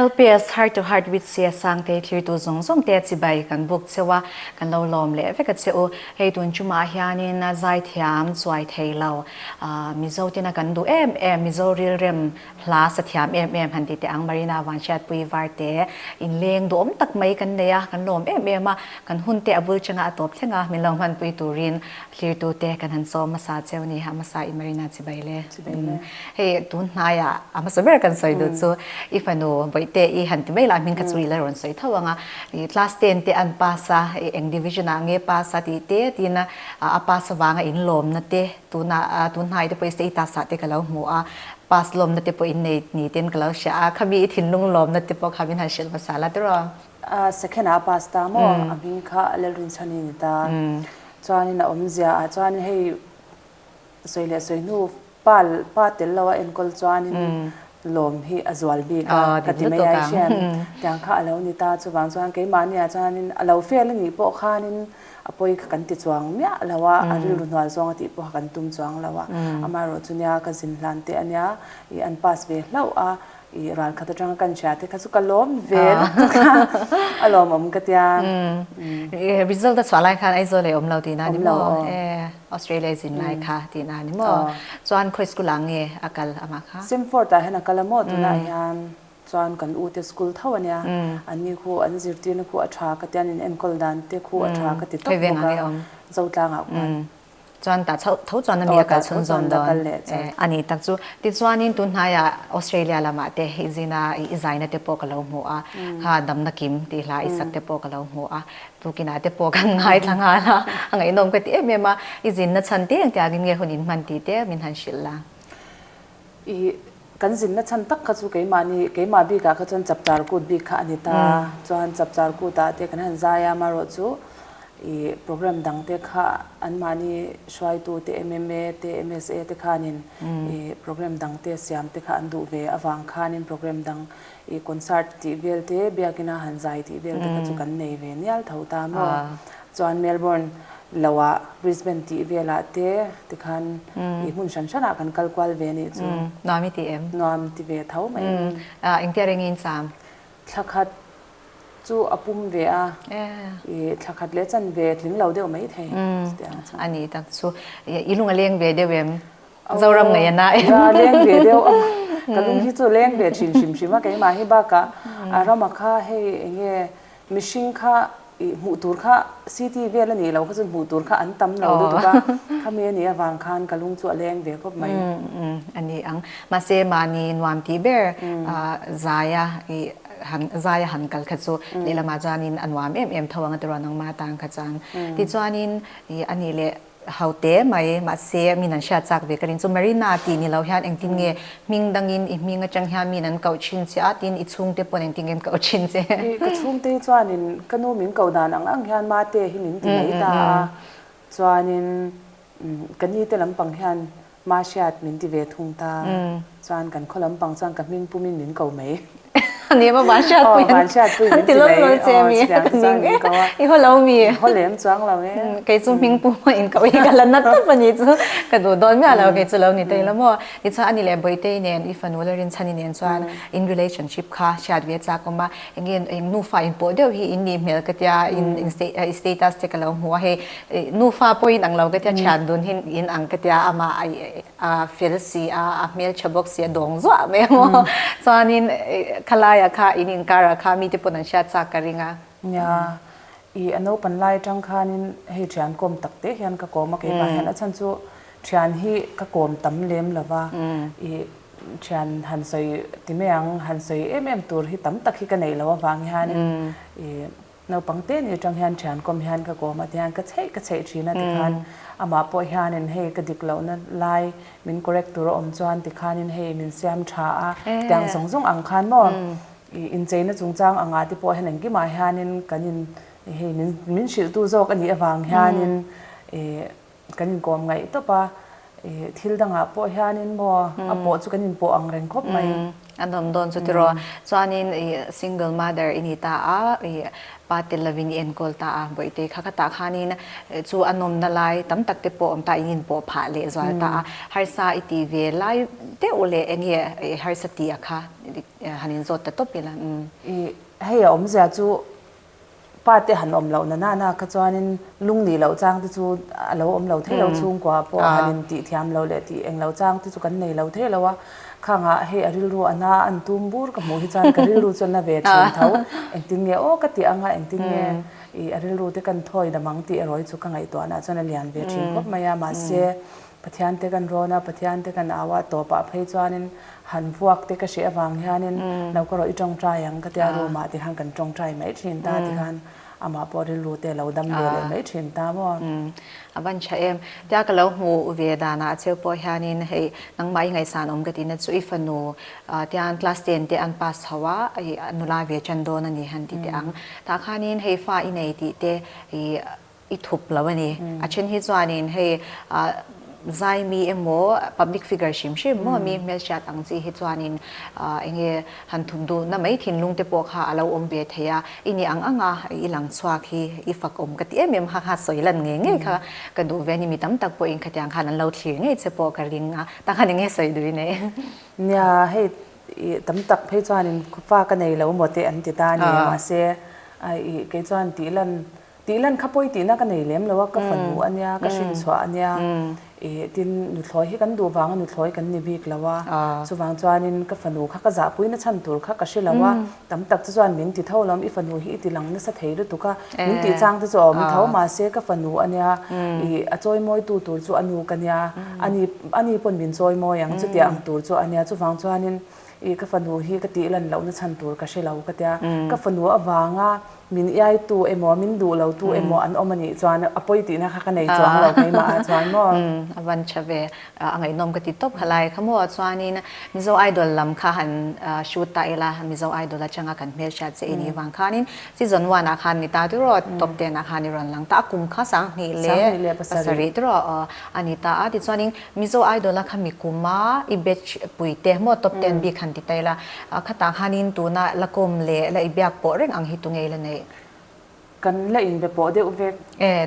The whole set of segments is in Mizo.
LPS Heart to Heart with Sia Sangtei thirtu zawng zawng te chibai kan buk cheu a, kan lo lawm leh vek a che u. Hei tun chumah hianin a zai thiam chuai thei lo. Aah Mizo ten a kan duh em em, Mizo rilrem hla sa thiam em em han ti teh ang. Marina Vanhriatpuii var te in leng duh awm tak mai kan nei a, kan lawm em em a, kan hun te a bul changa a tawp thleng a, min lo hmanpui turin Hlirtute kan han sawi hmasa cheu ni ha hmasa i Marina chibai le. Hei tun hnaia a hmasa ber kan sawi duh chu i fanu Bawihtê i han ti mai la hming kha chu ila rawn sawi tho anga i class ten te an pass a i eng division ah nge pass a tih te tina a pass avanga in lawmna te tuna tun hnaite pawh i status ah te ka lo hmu a pass lawmna te pawh in nei ni ten ka lo hria a khami i thinlung lawmna te pawh kha min han hrilh hmasa la tiraw. A second ah a pass ta maw a hming kha a lalrin chhan a ni ta chuanin a awmzia ah chuan hei sawi leh sawi hnu pa pa tel lo a enkawl chuanin lawm hi a zual bik a ka ti mai a i hriat tiang kha a lo ni ta chuvang chuan keimahni ah chuanin a lo fail a nih pawh khanin a pawi kha kan ti chuang miah lo a a rilru hnuah zawng a tih pawh kha kan tum chuang lo a amaherawhchu nia ka zin hlan teh a nia i an pass ve hlauh a. I ral khat atanga kan hria te kha chu ka lawm ve lutuk a, a lawmawm ka tia. Umm, result a chhuah lai khan Aizawl leh awm lo tih na ni maw? Awm lo. E, Australia i zin lai kha tih na ni maw? Chuan khawi school ah nge a kal amah kha? Sem four tah hian a kal a maw? Tunah hian chuan kan u te school tho a nia, anni khu an zirtirna khu a tha ka tia an in enkawl dan te khu a tha ka ti tawp bawk a, Zotlangah khuan. Chuan tah chauh tho chuan a mi a kal chhun zawm dawn a nih tak chu. Tichuanin tun hnaia Australia lamah te i zina i zaina te pawh ka lo hmu a, kha damna kim tih hla i sak te pawh ka lo hmu a, tukinah te pawh kan ngaithla nghal a, a ngaihnawm ka ti em em a, i zinna chhan teng tiangin nge hun in hman tih te min han hrilh la. I kan zinna chhan tak kha chu keimahni keimah bikah kha chuan chapchar kut bik kha a ni ta, chuan chapchar kutah te kan han zai a, amaherawh chu i programme dangte kha anmahni hruaitute MMA te MSA te khanin i programme dangte siamte kha an duh ve avang khanin programme dang I concert tih vel te biakin a han zai tih vel te kha chu kan nei ve nial tho ta maw. Chuan Melbourne lohah Brisbane tih velah te tikhan I hmun hran hran ah kan kal kual ve anih chu. Nuam I ti em? Nuam ti ve tho mai em. Engtia ring in cham? Thla khat chu a pum ve a. I thla khat leh chan ve tling lo deuh mai thei. Chutiang a chang. Ani tak chu. I lung a leng ve deuh em? Zoram ngei a na em? Ka leng ve deuh a, ka lung hi chu leng ve thin hrim hrim a, keimahi bakah a ram a kha hei eng nge mihring kha ih hmuh tur kha city vel a nih loh kha chu hmuh tur kha an tam lo lutuk a, khami a nih avang khan ka lung chu a leng ve khawp mai. A ni ang, mahse mahni nuam tih ber zai a ih han zai a han kal kha chu lehlamah chuan in a nuam em em tho ang a tiruan nangma tan kha chuan. Tichuan in ih a nih leh Haute mai, mahse min an hria chak ve ka ring chu. Marina tih ni lo hian engtin nge hming dangin i hming atang hian min an koh thin che a, tin i chhungte pawn engtin nge an koh thin che? I ka chhungte hi chuanin ka nu min koh dan ang ang hian mate hi min ti mai ta a, chuanin ka nite lampang hian Mahriat min ti ve thung ta chuan kan khaw lampang chuan ka hming pumin min ko mai. A ni emaw Vanhriat Puiin? Aw Vanhriat Puiin min ti mai. Aw chutiang te chuan min ko a. I haw lo mi? I haw lem chuang lo e. Kei chu hming pu maw in ko i ka la nat tawp a nih chu ka duh dawn miah lo kei chu lo ni daih lo maw? Ti chuan a ni leh Bawihte-i nen i fanu le Rinchhan-i nen chuan in relationship kha hriat ve tlak awm a, engin eng nufa in pawh deuh hi in nih hmel ka tia in status te ka lo hmu a hei Nufa pawhin ang lo ka tia, thian dun hin in ang ka tia, amah a fel si a, a hmeltha bawk si a, dawng zuah mai a maw. Chuanin khalaia kha in inkarah kha mite pawn an hriat chak ka ring a. Nia, i a naupan lai atang khanin hei thian kawm tak te hian ka kawm a, kei tah hian a chhan chu thian hi ka kawm tam lem lo va, i thian han sawi ti mai ang, han sawi em em tur hi tam tak hi ka neih lo avang hianin i. Naupang te nih atang hian thiankhawm hian ka kawm ati hian ka cheih ka cheih thin a tikhan amah pawh hianin hei ka dik lohna lai min correct tur a awm chuan tikhanin hei min siam tha a tiang zawng zawng ang khan maw i incheina chungchang angah te pawh hian engkimah hianin kan in hei min hrilhtu zawk a nih avang hianin i Kan inkawm ngaih tawp a, thil dangah pawh hianin maw a pawh chu kan inpawh ang reng khawp mai. An awm dawn chu tiraw. Chuanin single mother i ni ta a, pa tel lovin i enkawl ta a, Bawihte kha khatah khanin chu a nawmna lai tam tak te pawh awm ta in inpawh phah leh zual ta a. Harsa i tih ve lai deuh leh eng nge harsa tia kha han inzawt ta tawp ila. Hei a awmzia chu Pa te han awm loh na na na kha chuanin lung nih loh chang te chu a lo awm lo thei lo chhungkua ah pawh han in tih thiam lo leh tih eng lo chang te chu kan nei lo thei lo a. Khanga hei a rilru a na a an tum bur ka hmuh hi chuan ka rilru chuan a ve thin tho engtin nge aw ka tih ang a engtin nge i a rilru te kan thawi dam ang tih erawh hi chu ka ngaihtuah na ah chuan a lian ve thin khawp mai a mahse Pathian te kan rawn a, Pathian te kan au a, tawpah phei chuanin han vuak te ka hreh avang hianin lo ka rawh i tawngtai ang ka ti a, room ah ti khan kan tawngtai mai thin ta ti khan amah pawh rilru te lo dam ve leh mai thin ta maw. A van tha em. Tia ka lo hmu ve danah a cheu pawh hianin hei nangmah i ngaihsan awm ka ti na chu i fanu tiang class ten te an pass chho a, hei a nula ve tan dawn a ni han ti teh ang. Tah khanin hei fa i nei tih te i I thup lo a ni. A then hi chuanin hei Zaimi emaw public figure hrim hrim maw mi hmelchhiat ang chi hi chuanin eng nge han thup duhna mai thinlung te pawh kha a lo awm ve thei a, i ni ang anga i lang chhuak hi i fakawm ka ti em em ha kha sawi lan ngei ngei kha ka duh ve a ni. Mi tam tak pawhin khatiang khan an lo thlir ngei che pawh ka ring a, ta khan eng nge sawi duh i nei? Nia, hei tam tak phei chuanin khuafa ka nei lo maw teh an ti ta a ni. Mahse, kei chuan tih lan Tih lan kha pawi tihna ka nei lem lo a, ka fa nuh a nia, ka hrin chhuah a nia, i tin nuthlawi hi kan duh vang a nuthlawi kan ni bik lo a, chuvang chuanin ka fanu kha ka zahpui na chhan tur kha ka hre lo a, tam tak te chuan min ti tho alawm, i fanu hi i ti lang nasa thei lutuk a, min tih chang te chu a awm tho, mahse ka fanu a nia, i a chawi mawi tu tur chu a nu ka nia, ani ani pawn min chawi mawi ang chutia ang tur chu a nia, chuvang chuanin i ka fanu hi ka tih lan lohna chhan tur ka hre lo ka tia, ka fanu avanga Min iaitu emaw, min duh lo tu emaw an awm a nih chuan a pawi tihna kha ka nei chuang lo keimahah chuan maw? A van tha ve. A ngaihnawm ka ti tawp kha lai. Kha maw chuanin Mizo Idol lam kha han shoot ta ila, Mizo Idol atanga kan hmelchhiat che i nih vang khanin season one ah khan mi ta te rawh top ten ah khan i rawn lang ta a, kum kha sang hnih leh pasarih te rawh a ni ta a. Tichuanin Mizo idol a kha mi kum a i batch pui te maw top ten bik han ti ta ila a khatah khanin tuna la kawm leh la i biak pawh reng ang hi tu ngei la nei. Kan la inbe pawh deuh vek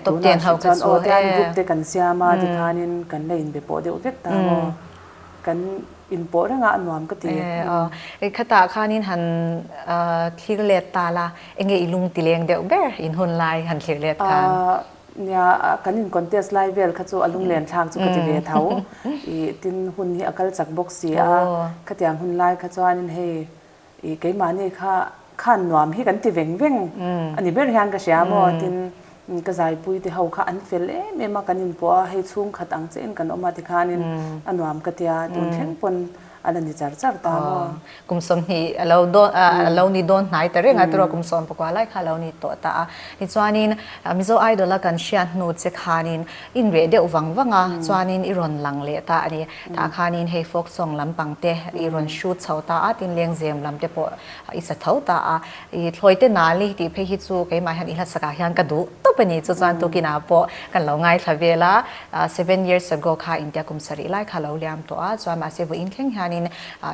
tuna a hriat chuan aw tian group te kan siam a ti khanin kan la inbe pawh deuh vek ta maw kan in pawh reng a a nuam ka ti. I khatah khanin han thlir let ta la enge i lung ti leng deuh ber in hun lai han thlir let khan. Nia, kan in contest lai vel kha chu a lunglen thlak chu ka ti ve tho i tin hun hi a kal chak bawk si a, khatiang hun lai kha chuanin hei i keimahni kha khan nuam hi kan ti veng veng a ni ber hian ka hria maw tin ka zaipui te ho kha an fel em em a kan in puah a hei chhungkhat ang che in kan awm a tikhanin a nuam ka tia tun thleng pawn a la ni char char ta maw? Kum sawm hi a lo dawn, a lo ni dawn hnai ta reng a, turaw kum sawm pakua lai kha a lo ni tawh ta a. Tichuanin Mizo Idol a kan hriat hnu che khanin in reh deuh vang vang a, chuanin i rawn lang leh ta a ni. Tah khanin hei folk song lampang te i rawn shoot chho ta a, tin lengzem lam te pawh i sa tho ta a. I thlawite nali tih phei hi chu keimah hian i hla sakah hian ka duh tawp a ni, chu chuan Tukina pawh kan lo ngaithla vel a. Seven years ago kha India kum sarih lai kha lo liam tawh a, chuan mahse vawiin thleng hianin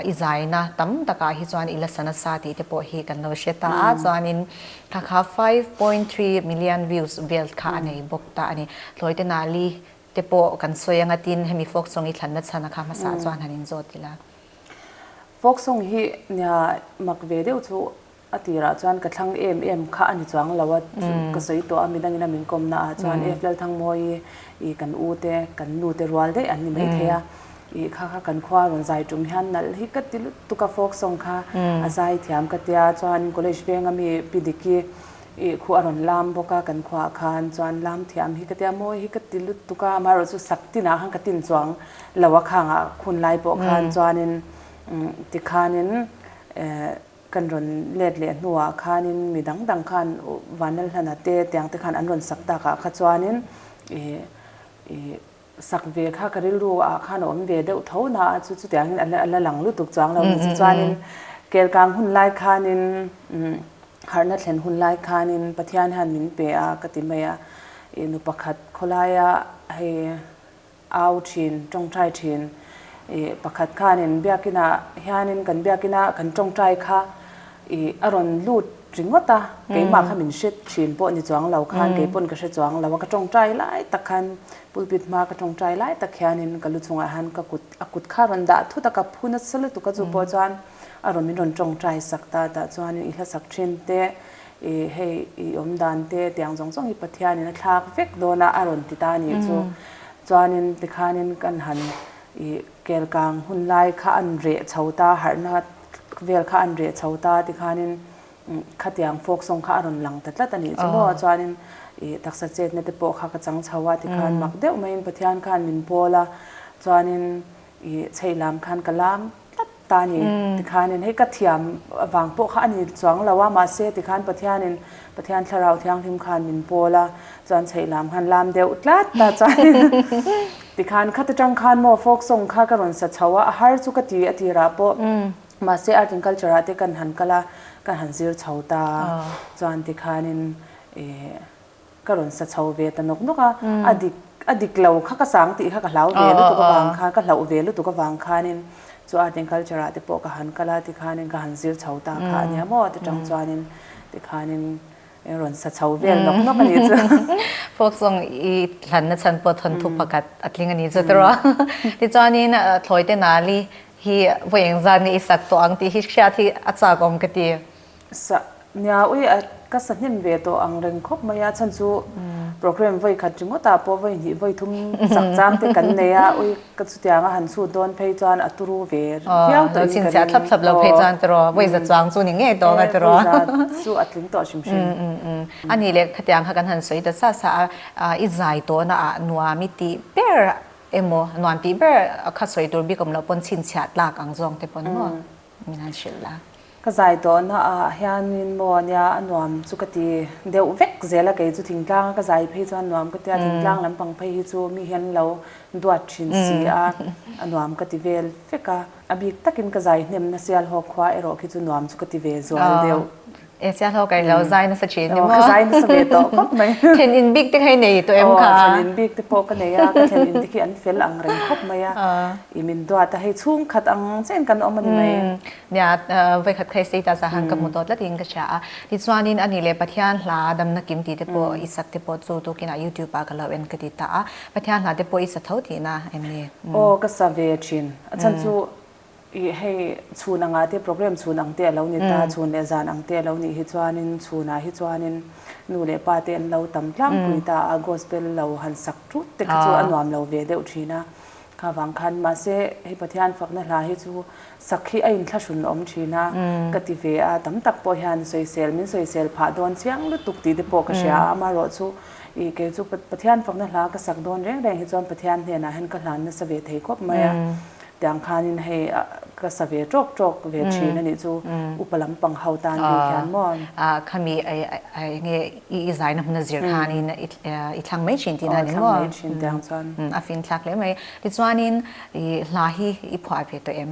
i zaina tam takah hi chuan i la sa nasa tih te pawh hi kan lo hre ta a, chuanin kha kha five point three million views vel kha a nei bawk ta a ni. Hlawite nali te pawh kan sawi a ngatin hemi folk song i thlanna chhana kha hmasa chuan han inzawt ila. Folk song hi nia mak ve deuh chu A tirah chuan ka thlang em em kha a ni chuang lo a, ka sawi tawh a, midangin a min kawm na ah chuan F. Lalthangmawi ih kan u te, kan nu te rual daih an ni mai thei a, ih kha kha kan khua a rawn zai tum hian nalh hi ka ti lut tuk a folk song kha a zai thiam ka tia chuan college veng a mi pi dik hi ih khuh a rawn lam bawk a, kan khua ah khan chuan lam thiam hi ka tia mawi hi ka ti lut tuk a, amaherawh chu sak tinah khan ka tin chuang lo a khang ah khun lai pawh khan chuanin tikhanin eh. Kan rawn let leh hnuah khanin mi dang dang khan Vanal hlana te tiang te khan an rawn sak tak ah kha chuanin sak ve kha ka rilru ah khan a awm ve deuh tho na a chu chutiang in a la lang lutuk chuang lo ni chu chuanin Kelkang hun lai khanin harna thlen hun lai khanin Pathian hian min pe a ka ti mai a nu pakhat khawlaia hei Au thin, tawngtai thin. I pakhat khanin biakinah hianin kan biakina kan tawngtai kha i a rawn lut ringawt a, keimah kha min hre thin pawh ni chuang lo khan kei pawn ka hre chuang lo a, ka tawngtai lai tak khan pulpit hma ka tawngtai lai tak hianin ka lu chungah hian ka kut a kut kha rawn dah thut a, ka phun a sa lutuk a chu pawh chuan a rawn min rawn tawngtai sak ta tah chuanin i hlasak thin te I hei i awm dan te tiang zawng zawng hi Pathianin a thlak vek dawn a a rawn ti ta nih chu. Chuanin tikhanin kan han i kelkang hun lai kha a nun reh chho ta, harhna vel kha a nun reh chho ta tikhanin khatiang folk song kha a rawn lang ta tlat a nih chu maw. Chuanin i taksa chetna te pawh kha ka chang chho a tikhan mak deuh maiin Pathian khan min pawl a chuanin i chheih lam khan ka lam tlat. ta ni tikhanin hei ka thiam vang pawh kha a ni chuang lo a, mahse tikhan Pathianin Pathian thlarau thianghlim khan min pawl a, chuan chheih lam khan lam deuh tlat ta chuan tikhan khat atang khan maw folk song kha ka rawn sa chho a, a har chu ka ti a tirah pawh mahse Art and Culture ah te kan han kal a, ka han zir chho ta a, chuan tikhanin ih. Ka rawn sa chho ve ta nawk nawk a, a dik a dik lo kha ka sang tih kha ka hlau ve lutuk avang khan, ka hlauh ve lutuk avang khanin chu Art and Culture ah te pawh ka han kal a tikhanin ka han zir chho ta kha ania maw ti tang chuanin tikhanin eng rawn sa chho vel nawk nawk a nih chu. Folk song i hlanna chhan pawh thawnthu pakhat a tling a nih chu ti rawh. Tichuanin Thlawite Nali hi vawieng zan nge i sak tawh ang tih hi hriat hi a chakawm ka ti. Sa nia ui a ka sa hnem ve tawh ang reng khawp mai a, chhan chu programme vawi khat ringawtah pawh vawi hnih vawi thum chak chang te kan nei a, ui ka chutiang a han chhut dawn phei chuan a turu ve viau tawh in ka ring. Lo chhinchhiah thlap thlap lo phei chuan ka rawh, vawi za chuang chu ni ngei tawh ang a ka rawh. Vawi za chu a tling tawh hrim hrim. A ni le, khatiang kha kan han sawi ta sa sa a, i zai tawna ah nuam i tih ber emaw nuam tih ber kha sawi tur bik awm loh pawn chhinchhiah tlak ang zawng te pawh ni ngawh. min han hrilh a. Ka zai tawh na ah hianin maw ania a nuam chu ka ti deuh vek zel a, kei chu thingtlang a ka zai phei chuan nuam ka ti a, thingtlang lampang phei hi chu mi hian lo duat thin si a, a nuam ka ti vel vek a, a bik takin ka zai hnem nasial hawk khua erawh khi chu nuam chu ka ti ve zual deuh. E Sia Hlo kailo zai nasa thin emaw? Ka zai nasa ve tawh khawp mai. Thlen in bik te kha i nei tawh em kha? Thlen in bik te pawh ka nei a, ka thlen in bik hi an fel ang reng khawp mai a. I min duat a, hei chhungkhat ang chen kan awm a ni mai. Nia, vawikhat kha i sei ta zah ang ka hmu tawh tlat in ka hria a. Tichuanin ani le Pathian hla damna kim ti te pawh i sak te pawh chu tukin ah YouTube ah ka lo en ka ti ta a. Pathian hla te pawh i sa tho tihna em ni? Aw, ka sa ve thin. A chhan chu Ih hei chhun anga te program chhun ang te alo ni ta, chhun leh zan ang te alo nih hi chuanin chhunah hi chuanin nu leh pa te an lo tam tlangpui ta a, gospel lo han sak tut te kha chu a nuam lo ve deuh thin a, kha vang khan. Mahse hei Pathian fakna hla hi chu sak hi a inthlahrun a awm thin a ka ti ve a, tam tak pawh hian sawisel min sawisel phah dawn chiang lutuk tih te pawh ka hria a, amaherawh chu ih kei chu Pathian fakna hla ka sak dawn reng reng hi chuan Pathian hnenah hian ka hlan nasa ve thei khawp mai a. Tiang khanin hei ka sa ve tawk tawk ve thin a nih chu, upa lampang ho tan ri hian maw? Khami enge i zaina hmuna zir khanin i thlang mai thin tihna a ni maw? A fin thlak hle mai. Tichuanin hla hi i phuah ve tawh em?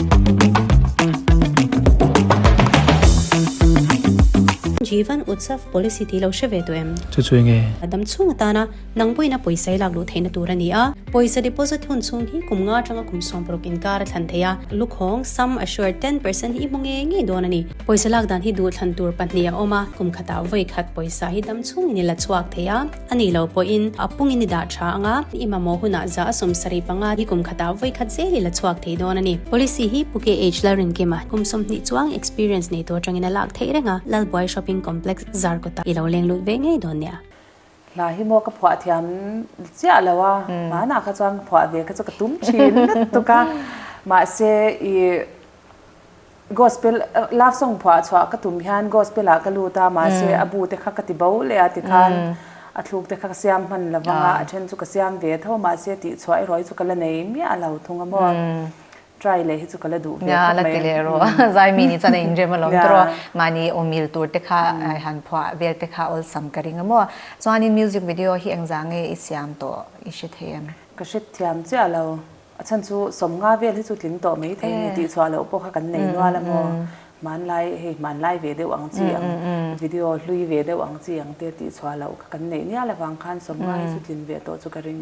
Jivan Utsav policy tih lo hre ve tawh em? Chu chu enge? A dam chhung atana nang buaina pawisa i lak luh theihna tur a ni a, pawisa deposit hun chhung hi kum nga tanga kum sawm paruk inkar a thlan thei a, lukhawng, sum assured, ten percent hi i hmu ngei ngei dawn a ni. Pawisa lak dan hi duhthlan tur pahnih a awm a, kum khatah vawi khat pawisa hi dam chhungin i la chhuak thei a, A nih lo pawhin a pungin i dah tha ang a, i mamawh hunah zah a sawm sarih panga hi kum khatah vawi khat zel ila chhuak thei dawn a ni. Policy hi Pu Keh Age Lal Rinkima kum sawmhnih chuang experience nei tur atangin a lak theih renga Lalbuai Shopping Complex zar kawtah i lo leng lut ve ngei dawn nia. Hla hi maw ka phuah thiam chiah lo a, hmanah kha chuan ka phuah ve kha chu ka tum thin lutuk a, mahse i Gospel love song phuah chhuah ka tum hian gospel ah ka lut a mahse a bu te kha ka ti bo leh a tikhan a thluk te kha ka siam hman lo vang a a then chu ka siam ve tho mahse tih chhuah erawh hi chu ka la nei miah a lo thung a maw try leh hi chu ka la duh ve khawp mai zai mi ni chuan a inrem a lo tawrh a mahni awmil tur te kha han phuah vel te kha awlsam ka ring a maw chuan in music video hi engzah nge i siam tawh i hre thei em? Ka hrethiam chiah lo. A chhan chu sawm nga vel hi chu tling tawh mai thei a ni tih chhuah loh pawh kha kan nei nual a maw, hmanlai hei hmanlai ve deuh ang chi ang, video hlui ve deuh ang chi ang te tih chhuah loh kha kan neih nial avang khan sawm nga hi chu tling ve tawh chu ka ring.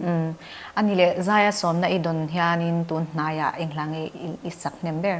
A ni leh, Zaia sawmna i dawn hianin tun hnaiah eng hlangaih i sak hnem ber?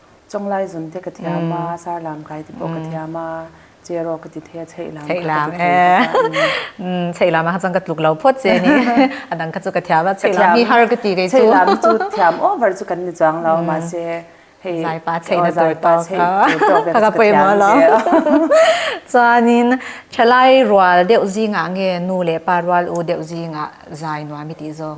Chawnglai zun te ka thiam a, sarlam kai te pawh ka thiam a, chair aw ka ti thei a, cheilam kha ka ti thei bawk a, umm. Cheilam ah kha chuan ka tluk lo phawt che ni, a dang kha chu ka thiam a, cheilam hi har ka ti kei chu. Cheilam chu thiam over chu kan ni chuang lo, mahse hei Zaipa chei na tur tawk chu ka la pawimawh lo. Chuanin thalai rual deuh zingah nge nu leh pa rual u deuh zingah zai nuam i tih zawk?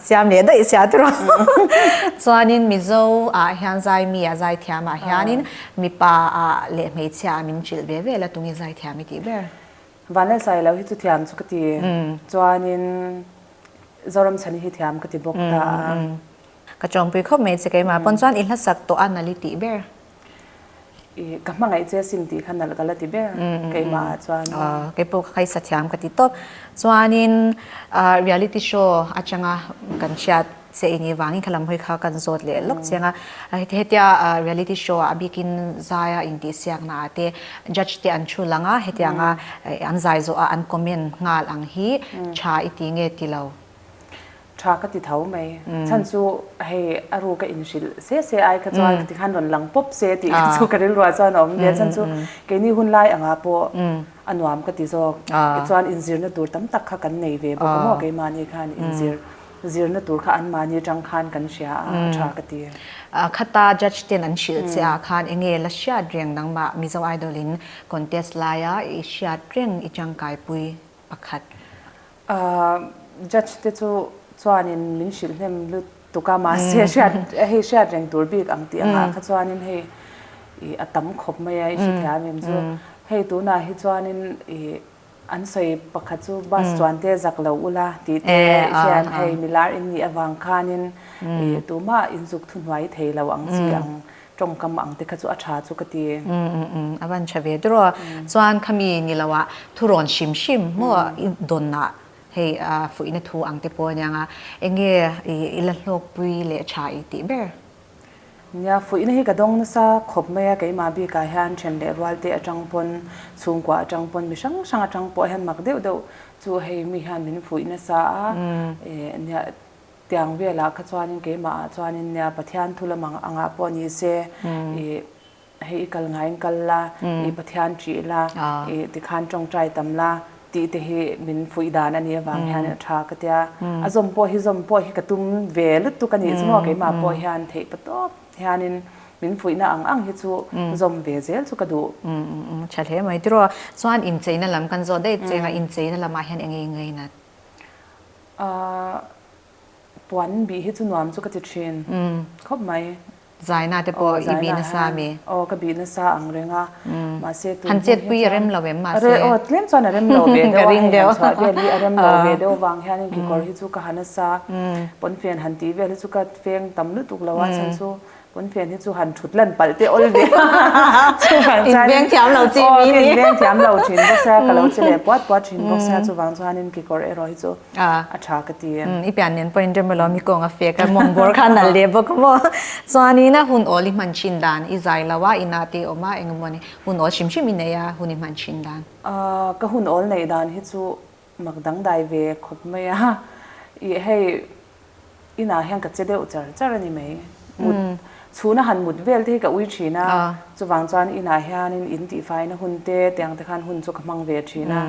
Siam leh daih sia tur a. Chuanin Mizo ah hian Zaimi a zai thiam ah hianin mipa a leh hmeichhia a min ṭilh ve ve la tunge zai thiam i tih ber? Vanleh sai lo hi chu thiam chu ka ti. Chuanin Zoram chhani hi thiam ka ti bawk ta a. Ka ṭawngpui khawp mai che keimah pawn chuan i hlasak tawh a nal i tih ber? I ka hmangaih che sim tih kha nalh ka la ti ber keimah ah chuan. Aw, kei pawh ka khaisa thiam ka ti tawp. Chuanin reality show atanga kan hriat che ini vangin kha lamhawi kha kan zawt leh lawk chiang a. Hetia reality show ah a bikin zaia intihsiakna ah te judge te an thu lang a, hetianga an zai zawh a an comment nghal ang hi tha i ti nge ti lo. Tha ka ti tho mai. Chhan chu hei a ru ka inhrilh se se ai kha chuan ka ti khan rawn lang pawp se tih kha chu ka rilruah chuan a awm ve a. Chhan chu keini hun lai angah pawh a nuam ka ti zawk. Tichuan inzirna tur tam tak kha kan nei ve bawk a maw keimahni khan inzir zirna tur kha anmahni atang khan kan hria a, a tha ka ti. Khata Judge ten an hrilh che ah khan enge la hriat reng nangmah Mizo Idol in contest laia i hriat reng i tangkaipui pakhat A judge te chu chuanin min hrilh hnem lut tuk a, mahse hriat hei hriat reng tur bik ang tih angah kha chuanin hei ih a tam khawp mai a i hrithiam em chu. Hei tunah hi chuanin ih an sawi pakhat chu bus chuan te zak lo ula tih te hian hei milar inneih avang khanin ih tumah inzuk thuhnuai thei lo ang chi ang. tawngkam ang te kha chu a tha chu ka ti e. Umm umm umm, a van tha ve dur a, chuan khami ni lo ah thu rawn hrim hrim maw a, i dawn ah hei fuihna thu ang te pawh a niang a, eng nge i la hlawkpui leh tha i tih ber? Nia, fuihna hi ka dawng nasa khawp mai a, keimah bik ah hian then leh rual te atang pawn, chhungkua atang pawn, mi hrang hrang atang pawh hian mak deuh deuh chu hei mi hian min fuih nasa a, eh nia. Tiang velah kha chuanin keimah ah chuanin nia Pathian thu lam ang angah pawh ni se ih hei i kal ngaiin kal la ih Pathian ṭih la ih tikhan ṭawngṭai tam la tih te hi min fuih dan a nih avang hian a ṭha ka ti a. A zawm pawh hi zawm pawh hi ka tum ve lutuk a nih chu maw keimah pawh hian theih pa tawp hianin min fuihna ang ang hi chu zawm ve zel chu ka duh. Ṭha hle mai tiraw? Chuan incheina lam kan zawh daih cheng a, incheina lamah hian eng nge i ngaina? Ahh, puan bih hi chu nuam chu ka ti thin khawp mai. Zaina te pawh i bih nasa a mi? Aw, ka bih nasa ang reng a, mahse tun hmun hi chuan. Han chet pui a rem lo em mahse? A rem, aw tlem chuan a rem lo ve deuh a. Ka ring deuh. Chhuah vel hi a rem lo ve deuh vang hianin kekawr hi chu ka ha nasa a, pawnfen han tih vel hi chu ka feng tam lutuk lo a chhan chu Pawnfen hi chu han thut lan palh te awl nia chuvang chuan in beng thiamlo chi mi nia in beng thiam lo thin bawk sia ka lo che leh puat puat thin bawk sia chuvang chuanin kekawr erawh hi chu a tha ka ti em i pian nen pawhin rem alo mi kawng a fek a mawngbawl kha a nalh leh bawk a maw chuanin a hun awl i hman thin dan i zai lo a inah te awm a engemaw ni hun awl hrim hrim i neih a hun i hman thin dan. Ka hun awl neih dan hi chu Mak dang dai ve khawp mai a, i hei inah hian ka che deuh char char a ni mai. Mut chhuna han mut vel te hi ka ui thin a, chuvang chuan inah hianin in tih fai na hun te teh ang te khan hun chu ka hmang ve thin a.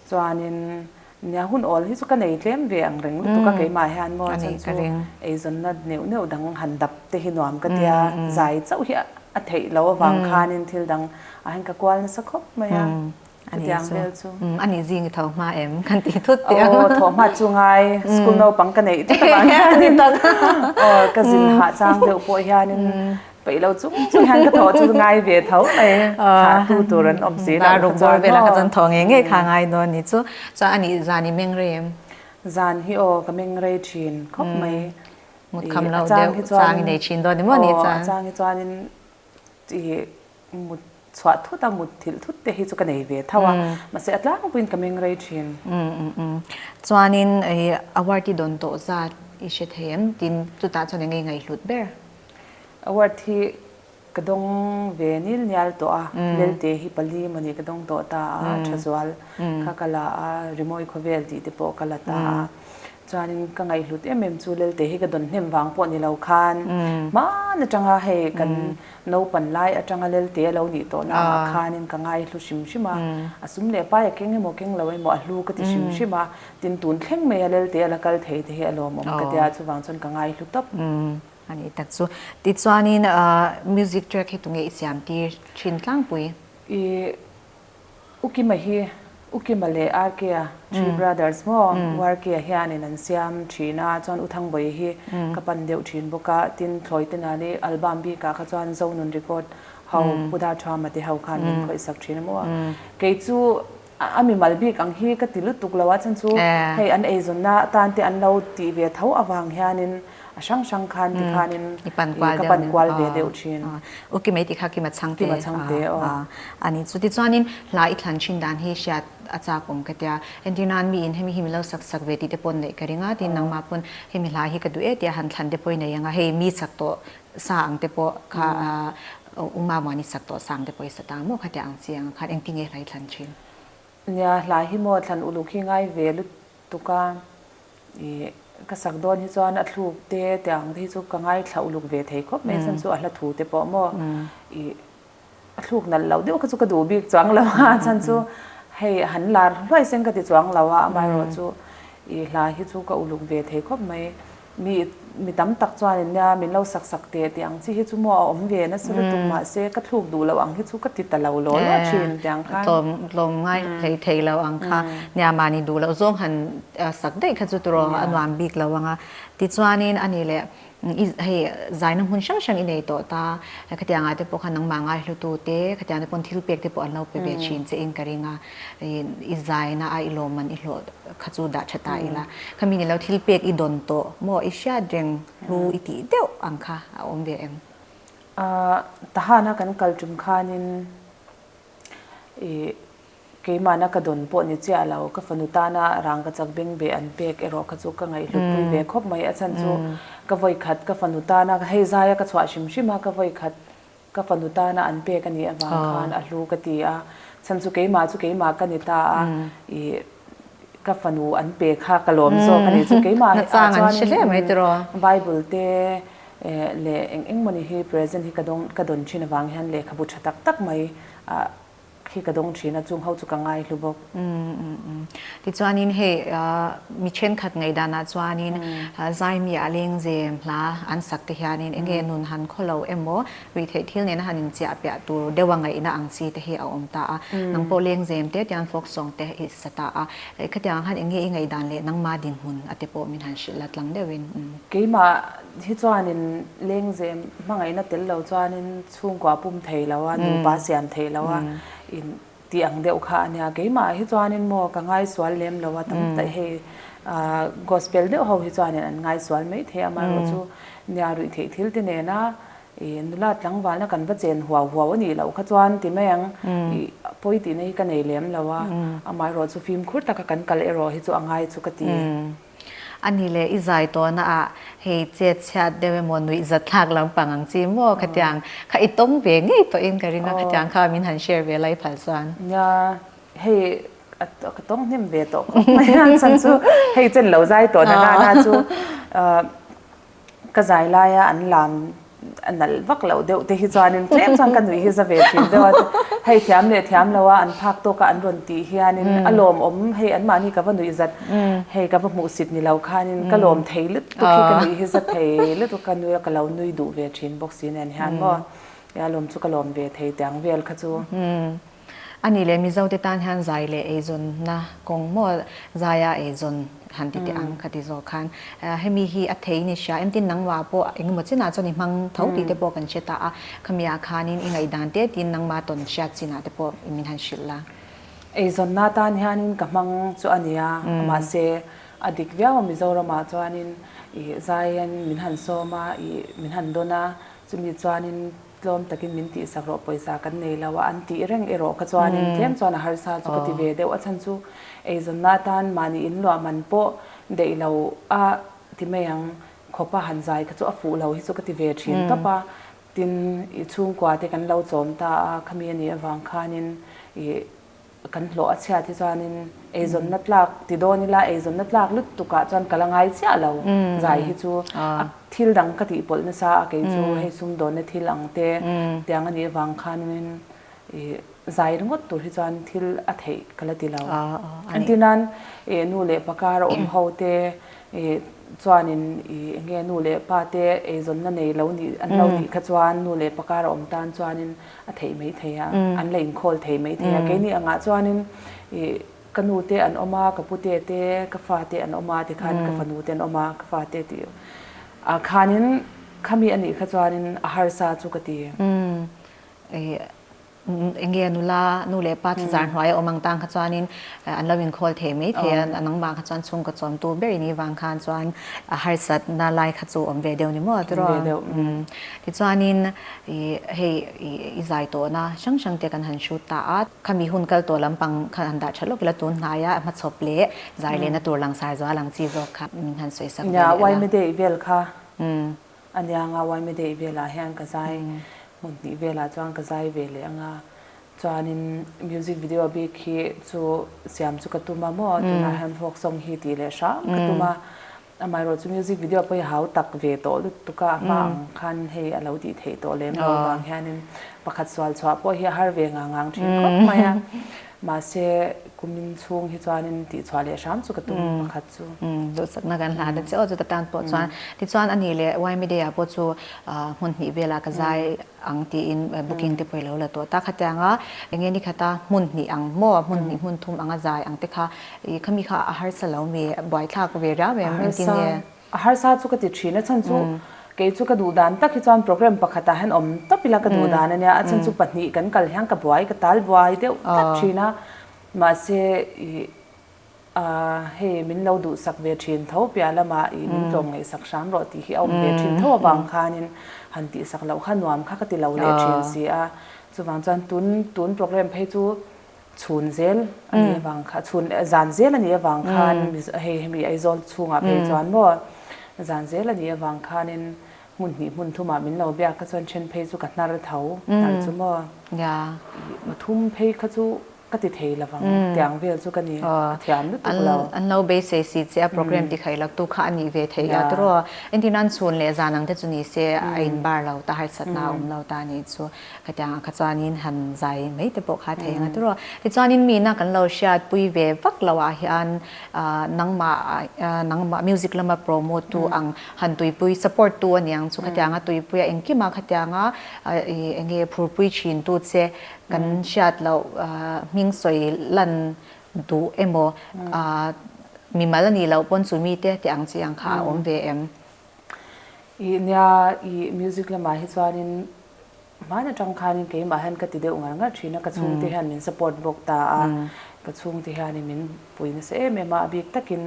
Chuanin nia hun awl hi chu ka nei tlem ve ang reng lutuk a, keimah hian maw chhan chu eizawnna neuh neuh dang han dap te hi nuam ka tia, zai chauh hi a theih loh avang khanin thil dang ah hian ka kual nasa khawp mai a. A nih chu, umm a nih zing i tho hma em? Kan tih thut teh ang. Aw, tho hma chu ngai, school naupang ka neih thut avang hian in, aw ka zin hah chang deuh pawh hian in paih lo chung chung hian ka tho chu ngai ve tho mai, thah tu tur an awm si loh kha chuan hawh. Chuan tho ngei ngei kha ngai dawn a nih chu. Chuan a nih zan i meng rei em? Zan hi aw ka meng rei thin khawp mai. Mut kham loh deuh chang i nei thin dawn em aw ni chuan. Aw a chang hi chuan in tih mut chhuah thut a, mut thilh thut te hi chu ka nei ve tho a, mahse a tlangpuiin ka meng rei thin. Chuanin hei Awarthi dawn tawh zat i hre thei em? Tin chutah chuan i ngaingai hlut ber. Awarthi ka dawng ve nil nial tawh a, Lelte hi pali mawni ka dawng tawh ta a, Thazual kha ka la a, Rimawi khawvel tih te pawh ka la ta a, Chuanin ka ngaihlut em em chu Lelte hi ka dawn hnem vang pawh ni lo khan hman atanga hei kan naupan lai atanga Lelte a lo nih tawhna angah khanin ka ngaihlu hrim hrim a, a sum leh pai a keng emaw keng lo emaw a hlu ka ti hrim hrim a, tin tun thleng mai a Lelte a la kal thei te hi a lawm awm ka tia a chuvang chuan ka ngaihlu tawp. A nih tak chu. Tichuanin music track hi tunge i siam tir thin tlangpui? I U Kima hi U Kima leh RK a three brothers maw? U RK-a hianin an siam thin a, chuan U Thangbawi hi ka pan deuh thin bawk a, tin thlawi te nani album bikah kha chuan Zonun Record ho Pu Dar Tha Mate ho khan min khawihsak thin a maw a. Kei chu a mimal bik ang hi ka ti lutuk lo a, chhan chu hei an eizawnna atan te an lo ti ve tho avang hianin a hrang hrang khan ti khanin i pan kual deuh nen ka pan kual ve deuh thin u ki mai ti kha kima chhang te kima chhang te aw a ni chu tichuanin hla i thlan thin dan hi hriat a chak awm ka tia entir nan mi in hemi hi mi lo sak sak ve tih te pawh neih ka ring a tin nangma pawn hemi hla hi ka duh e tia han thlan te pawh i nei ang a hei mi chak tawh sa ang te pawh kha u mamua ni chak tawh sa ang te pawh i sa ta ang maw kha tia ang chi ang khan engtin nge hla i thlan thin nia hla hi maw thlan uluk hi ngai ve lut tuk a, ih ka sak dawn hi chuan a thluk te te ang te hi chu ka ngaithla uluk ve thei khawp mai chhan chu a hla thu te pawh maw ih a thluk nalh loh deuh kha chu ka duh bik chuang lo a chhan chu hei han lar hluai seng ka ti chuang lo a amaherawhchu ih hla hi chu ka uluk ve thei khawp mai. Mi mi tam tak chuanin nia min lo sak sak teh tih ang chi hi chu maw a awm ve nasa lutuk mahse ka thluk duh loh ang hi chu ka ti ta lo law law thin tih ang khan. Tlawm tlawm ngai hlei thei lo ang kha nia mahni duh loh zawng han sak daih kha chu turaw a nuam bik lo ang a. Tichuanin a nih leh i hei zaina hmun hrang hrang i nei tawh ta khatiang ah te pawh khan nangmah ngaihlutu te khatiang te pawh thil pek te pawh an lo pe ve thin che in ka ring a. I zain a, a i lawmman i hlawh kha chu dah ṭha ta ila, khami nih lo thil pek i dawn tawh maw, i hriat reng hlu i tih deuh ang kha a awm ve em? Tahana kan kal ṭum khanin keimahna ka dawn pawh ni chiah lo, ka fanu tana rang ka chak beng be an pek erawh kha chu ka ngaihhlutpui ve khawp mai, a chhan chu ka vawikhat ka fanu tana hei zaia ka chhuah hrim hrim a, ka vawikhat Ka fanu tana an pek a nih avang khan a hlu ka ti a, chhan chu keimah chu keimah ka ni ta a, i ka fanu an pek kha ka lawm zawk a nih chu, keimah ah chuan Bible te leh eng eng mawni hi present hi ka dawn thin avang hian lehkhabu tha tak tak mai a Khi ka dawng thin a, chungho chu ka ngai hlu bawk. Tichuanin hei mi thenkhat ngaih danah chuanin Zaimi a leng ze hna an sak te hianin eng nge nun han khaw lo emaw, rih theih thil nena han inchiah piah tur deuh a ngaihna ang chi te hi a awm ta a. Nang pawh leng ze em te tian folk song te i sa ta a. Khatiang ang khan eng nge i ngaih dan leh nangma dinhmun a te pawh min han hrilh la tlang deuhin. Keimah hi chuanin leng ze hmangaihna tel lo chuanin Chhungkua pum thei lo a, nupa siam thei lo a, in tih ang deuh kha a nia. Keimah hi chuanin maw ka ngaisual lem lo a, tam tak hei Gospel deuh ho hi chuanin an ngaisual maithei a, amaherawh chu nia ruih theih thil te nena i nula tlangvalna kan va chen huau huau a nih loh kha chuan ti mai ang, i a pawi tihna hi ka nei lem lo a, amaherawh chu fimkhur taka kan kal erawh hi chu a ngai chu ka ti. A ni le, i zai tawna ah hei chetchhiat deuh emaw nuih zat thlak lampang ang chi maw ka tiang kha i tawng ve ngei tawh in ka ring a, khatiang kha min han share ve lai phal chuan. Nia, hei ka tawng hnem ve tawh khawp mai a chhan chu hei chen lo zai tawna nana chu ka zai laia an lam a nalh vak loh deuh te hi chuanin tlem chuan ka nuih hi za ve thin deuh a hei thiam leh thiam lo a an phak tawk a an rawn tih hianin a lawmawm hei anmahni ka va nuih zat hei ka va hmuh sit ni lo khanin ka lawm thei lutuk hi ka nuih hi za thei lutuk ka nui a ka lo nui duh ve thin bawk si nen hian maw a lawm chu ka lawm ve thei tiang vel kha chu. A nih leh Mizo te tan hian zai leh eizawnna kawng maw zai a eizawn han ti teh ang ka ti zawk khan hemi hi a thei ni hria engtin nangma pawh engemaw chinah chuan i hmang tho tih te pawh kan hre ta a khami ah khan in i ngaihdan teh tiin nangma tawn hriat chinah te pawh i min han hrilh la. Eizawnna tan hian in ka hmang chu a nia mahse a dik viau a Mizoram ah chuan in i zai hian in min han sawm a i min han dawn a chumi chuan in Tlawm takin min tih sak rawh pawisa kan nei lo a an tih reng erawh kha chuanin tlem chuan a harsa chu ka ti ve deuh a chhan chu eizawnna atan mahni in luah man pawh daih lo a ti mai ang khawpa han zai kha chu a fuh lo hi chu ka ti ve thin tawp a tin i chhungkua te kan lo chawm ta a khami anih avang khanin i Kan hlawh a chhiat hi chuanin eizawnna tlak ti dawn ila eizawnna tlak lutukah chuan ka la ngai chiah lo zai hi chu a thil dang ka tih pawlh nasa a kei chu hei sumdawnna thil ang te tiang a nih avang khan in i zai ringawt tur hi chuan thil a theih ka la ti lo engti nan i nu leh pa kara awm ho te i chuanin i enge nu leh pa te eizawnna nei lo nih an lo nih kha chuan nu leh pa kara awm tan chuanin a theih mai thei a, an la inkhawl thei mai thei a, keini angah chuanin ih ka nu te an awm a, ka pu te te, ka fa te an awm a tikhan ka fanu te an awm a, ka fa te tih ah khanin khami anih kha chuanin a harsa chu ka ti. Eng nge a nula, nu leh pa thazar hnuaia awm ang tan kha chuanin an lo inkhawl thei mai thei a, a nangma kha chuan chhungkaw chawmtu ber ini vang khan chuan a harsatna lai kha chu awm ve deuh ni maw a ti rawh a. Tichuanin i hei i zai tawhna hrang hrang te kan han shoot ta a, khami hun kal tawh lampang khan han dah that lawk ila tun hnaia a hmachhawp leh zai lehna tur langsar zual ang chi zawk kha min han sawi sak ve leh la. Yma day vel kha anianga yma day velah hian ka zai hmun hnih velah chuan ka zai ve leh anga chuanin music video bik hi chu siam chu ka tum a maw tunah hian folk song hi tih leh hrang ka tum a. Amaherawh chu music video pawh hi hau tak ve tawh lutuk a, amah ang khan hei a lo tih theih tawh lem lo vang hianin pakhat sual chhuah pawh hi a har ve ngang ngang thin khawp mai a, mahse kumin chhung hi chuanin tih chhuah leh hram chu ka tum pakhat chu. Duhsakna kan hlan a che aw chuta tan pawh chuan, tichuan ani leh ymedia pawh chu hmun hnih velah ka zai ang tiin booking te pawh i lo la tawh ta kha te ang a, eng nge nikhata hmun hnih ang maw, a hmun hnih hmun thum ang a zai ang te kha i khami kha a harsa lo mi, buaithlak ve riau em engtin nge? A harsa chu ka ti thin a, chhan chu kei chu ka duh dan tak hi chuan programme pakhatah hian awm tawp ila ka duh dan a nia, a chhan chu pahnih kan kal hian ka buai, ka tal buai deuh tak thin a, mahse i. A, hei min lo duhsak ve thin tho piah lamah i min tlawm ngaihsak hram rawh tih hi a awm ve thin tho avang khanin han tihsak loh kha nuam kha ka ti lo leh thin si a, chuvang chuan tun tun programme phei chu chhun zel a nih avang kha chhun zan zel a nih avang khan Mizo hei hemi Aizawl chhungah phei chuan maw zan zel a nih avang khanin hmun hnih hmun thum ah min lo biak kha chuan then phei chu ka hnar tho hnar chu maw i pathum phei kha chu Ka ti thei lo vang, tiang vel chu ka ni a thiam lutuk lo. An lo beisei si che a program ti khaih laktu kha a nih ve thei la tur aw. Engtin an chhun leh zan ang te chu ni se a in bar lo ta harsatna a awm lo ta ni chu ka tiang ang kha chuanin han zai mai te pawh kha thei ang a tur aw. Tichuanin mi na kan lo hriat pui ve vak lo ah hian nangmah nangmah music lama promote tu ang han tuipui support tu a ni ang chu ka tiang a tuipui a engkim a kha tiang a enge phurpui thin tu che Kan hriat loh hming sawi lan duh emaw, mi mal a nih loh pawn chu mi teh teh ang chi ang kha a awm ve em? I nia, i music lamah hi chuanin hman atang khanin keimah hian ka ti deuh ngar ngar thin a, ka chhungte hian min support bawk ta a, ka chhungte hianin min pui nasa em em a, a bik takin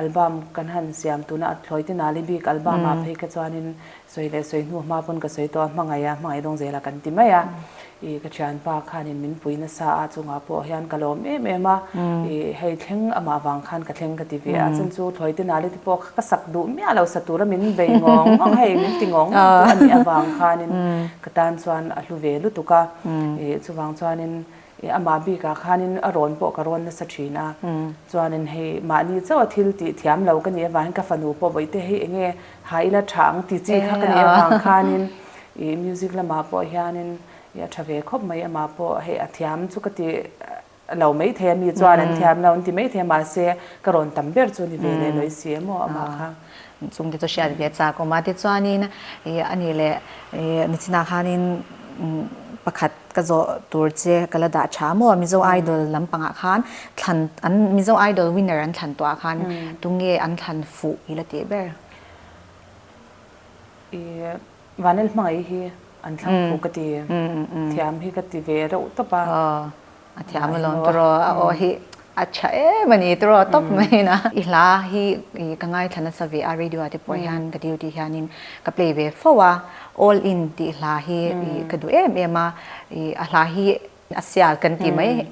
album kan han siam tuna a thlawite Nalibik album ah phei kha chuanin Sawi leh sawi hnu hma pawn ka sawi tawh a, hmangaih a, hmangaih dawng zela kan ti mai a, i ka thianpa khanin min pui nasa a chungah pawh hian ka lawm em em a, i hei thleng amah vang khan ka thleng ka ti ve a, chun chu thlawi te nali te pawh kha ka sak duh miah lo, sa tura min bei nghawng nghawng hei min ti nghawng nghawng pawh a nih avang khanin ka tan chuan a hlu ve lutuk a, i chuvang chuanin I amah bikah khanin a rawn pawh ka rawn nasa thin a, chuanin hei mahni chauha thil tih thiam lo ka nih avangin ka fanu pawh vawihte hi enge ha ila tha ang ti chi kha ka nih avang khanin i music lamah pawh hianin i a tha ve khawp mai amah pawh hei a thiam chu ka ti lo maithei a mi chuan an thiam lo an ti maithei mahse ka rawn tam ber chu ni ve leh lo i si emaw amah kha. Chung te chu hriat ve chak awm a, tichuanin a nih leh Nichina khanin pakhat ka zawh tur che ka la dah tha maw, Mizo Idol lampangah khan thlan an Mizo Idol winner an thlan tuah khan tunge an thlan fuh i la tih ber? Vanel hmangaih hi an thlang phu ka ti. Thiam hi ka ti ve reuh tawp a. Aw, a thiam alawm tawrh aw, a aw hi a tha em a ni tawrh aw tawp mai in a. I hla hi ka ngaithla nasa ve a, radio ah te pawh hian ka duty hianin ka play ve fo a, All In tih hla hi ka duh em em a, a hla hi. A sial kan tih mai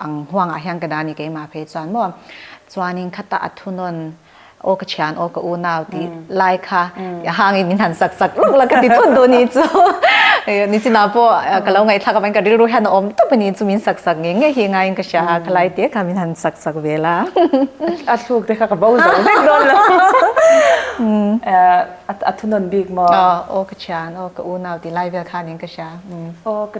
ang huangah hian ka dah ni keimah phei chuan maw chuanin khata a thu nawn aw ka thian aw ka unau tih lai kha a hangin min han sak sak lawk la ka ti thut duh ni chu Nichina pawh ka lo ngaihthlak avangin ka rilru hian a awm tawp a ni chu min sak sak nge nge hi ngaiin ka hria a khalai te kha min han sak sak ve la a thluk te kha ka bo zo vek dawn lo a thu nawn bik maw aw ka thian aw ka unau tih lai vel khanin ka hria aw ka.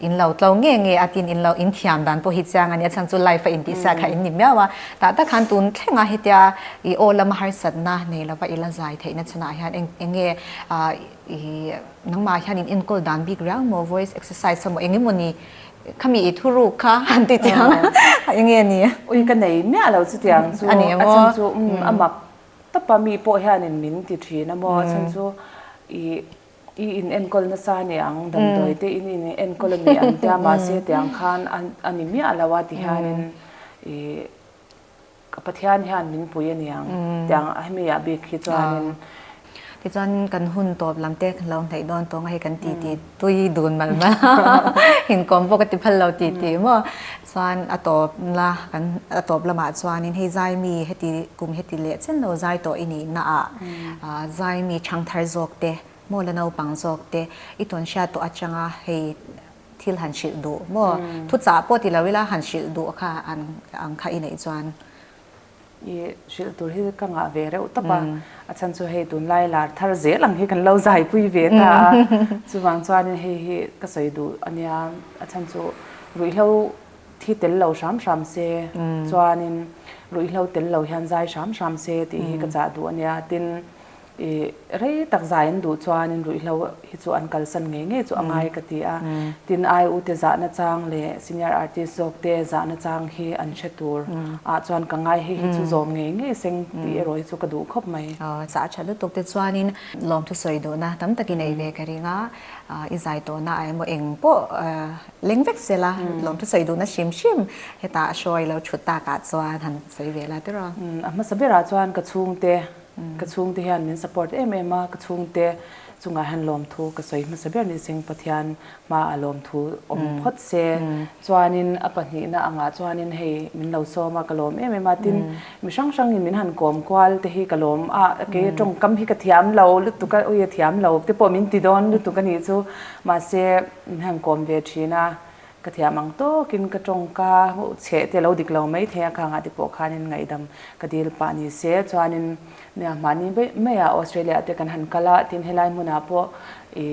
In lo tlo nge nge a tin in lo in thiam dan pawh hi chiang a ni a, chhan chu life a in tih sa kha in ni miau a, tah tak khan tun thlengah hetia i aw lama harsatna nei lova i la zai theih na chhanah hian eng eng nge i nangmah hian in enkawl dan bik riau maw voice exercise emaw eng emaw ni khami i thuruk kha an ti chiang a, a eng nge ni. Ui ka nei miah lo chutiang chu a ni emaw? a chhan chu umm a mak tap a mi pawh hian in min ti thin a maw a chhan chu i. I in enkawl nasa ania ang damdawi te in in enkawl a ni ang tia mahse tiang khan a ni miah lo a ti hianin i ka Pathian hian min pui a ni ang tiang a hemi ah bik hi chuanin Tichuanin kan hun tawp lam te kan lo hnaih dawn tawng a hei kan titi tui dun mal mal a inkawm bawk a ti phal lo titi maw. Chuan a tawp la, kan a tawp lamah chuanin hei Zaimi heti kum heti leh chen lo zai tawh i nihna ah Zaimi thangthar zawk te maw la naupang zawk te i tawn hriat tawh atanga hei thil han hrilh duh maw? Thuchah pawt i lo ila han hrilh duh kha ang kha i neih chuan. I hrilh tur hi ka ngah ve reuh tawp a, a chhan chu hei tunlai lar thar zel ang hi kan lo zaipui ve ta a, chuvang chuan hei hi ka sawi duh a nia, a chhan chu ruihhlo thi tel lo hram hram se chuanin ruihhlo tel lo hian zai hram hram se tih hi ka chah duh a nia tin, I rei tak zai an duh chuan in ruihhlo hi chu an kalsan ngei ngei chu a ngai ka ti a. Tin ai u te zahna chang leh senior artist zawk te zahna chang hi an hre tur ah chuan ka ngai hei hi chu zawm ngei ngei seng tih erawh hi chu ka duh khawp mai. Sa a tha lutuk te chuan in lawm thusawi duhna tam tak i nei ve ka ring a, i zai tawh na ah emaw eng pawh leng vek se la lawm thusawi duhna hrim hrim hetah a show a i lo thut tak ah chuan han sawi ve la tiraw. A hmasa ber ah chuan ka chhung te. Ka chhungte hian min support em em a, ka chhungte chungah hian lawmthu ka sawi hmasa ber ni seng Pathian hmaah lawmthu awm phawt se chuanin a pahnihna angah chuanin hei min lo sawm a, ka lawm em em a tin mi hrang hrangin min han kawm kual te hi ka lawm a, kei a tawngkam hi ka thiam lo lutuk a ui a thiam lo te pawh min ti dawn lutuk a nih chu mahse min han kawm ve thin a, Ka thiam ang tawkin ka tawngka chheh te lo dik lo mai thei a, khang ah te pawh khanin ngaihdam ka dil pah ni se. Chuanin nia mahni beih mai a Australia te kan han kal a, tin helai hmunah pawh i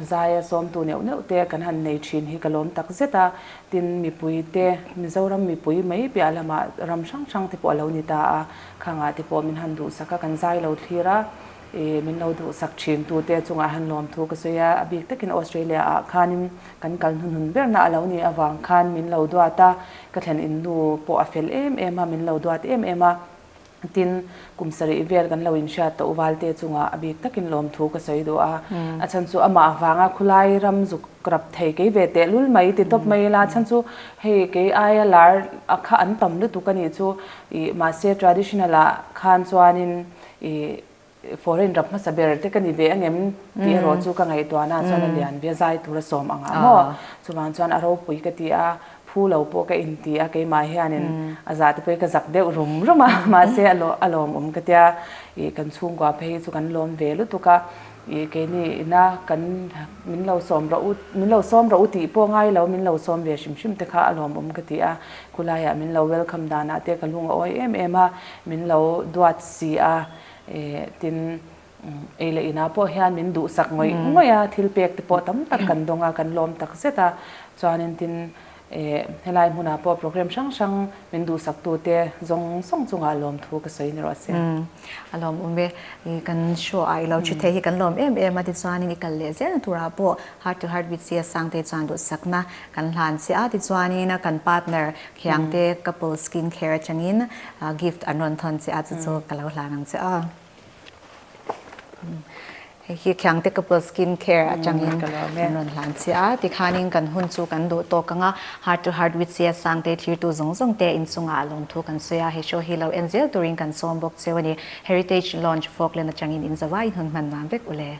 zaia sawmtu neuh neuh te kan han nei thin hi ka lawm tak zet a, tin mipui te Mizoram mipui mai piah lamah ram hrang hrang te pawh a lo ni ta a, khang ah te pawh min han duhsak a, kan zai lo thlir a, i min lo duhsak thin tu te chungah han lawm thu ka sawi a, a bik takin Australia ah khanin Kan kal hnun hnun berna a lo nih avang khan min lo duat a, ka thlen in nu pawh a fel em em a, min lo duat em em a, tin, kum sarih vel kan lo inhriat tawh uvalte chungah a bik takin lawmthu ka sawi duh a, a chhan chu amah avanga khulai ram zuk rap thei kei ve teh lul mai ti tawp mai ila, a chhan chu hei kei aia lar a kha an tam lutuk a nih chu, ih mahse traditional ah khan chuanin ih. Foreign ram hmasa ber te ka ni ve angem tih erawh chu ka ngaihtuah nâ chuan a lian biazai tur a sawm ang ang aw. Chuvang chuan a ropui ka ti a, phu lo pawh ka inti a, keimah hianin a zah te pawhin ka zak deuh rum rum a, mahse a lawm awm ka tia, ih kan chhungkua phei hi chu kan lawm ve lutuk a, ih keini ina kan min lo sawm rawh u, min lo sawm rawh u tih pawh ngai lo min lo sawm ve hrim hrim te kha a lawm awm ka ti a, khulaiah min lo welcome danah te ka lung a awi em em a, min lo duat si a. Tin, ei leh inah pawh hian min duhsak ngawih ngawih a, thil pek te pawh tam tak kan dawng a, kan lawm tak zet a. Chuanin tin, helai hmunah pawh programme hrang hrang min duhsak tu te zawng zawng chungah lawm thu ka sawi ni rawh a se. A lawm awm e. Kan show ah i lo thi theih hi kan lawm em em a, tichuanin i kal leh zel na turah pawh Heart to Heart with CSang te chuan duhsakna Kan hlan chiah a tichuanin kan partner Khiangte Couple Skin Care atangin gift an rawn thawn chiah a, chu chu ka lo hlan ang che a. Hei hi Khiangte Couple Skin Care atangin an rawn hlan chiah a, tikhanin kan hun chu kan duh tawk ang a, Heart to Heart with Siasang te thirtu zawng zawng te inchungah a lawmthu kan sawi a, he show hi lo en zel turin kan sawm bawk cheu a ni. Heritage Lounge Falkland atangin inzova inhun hman nuam vek u le.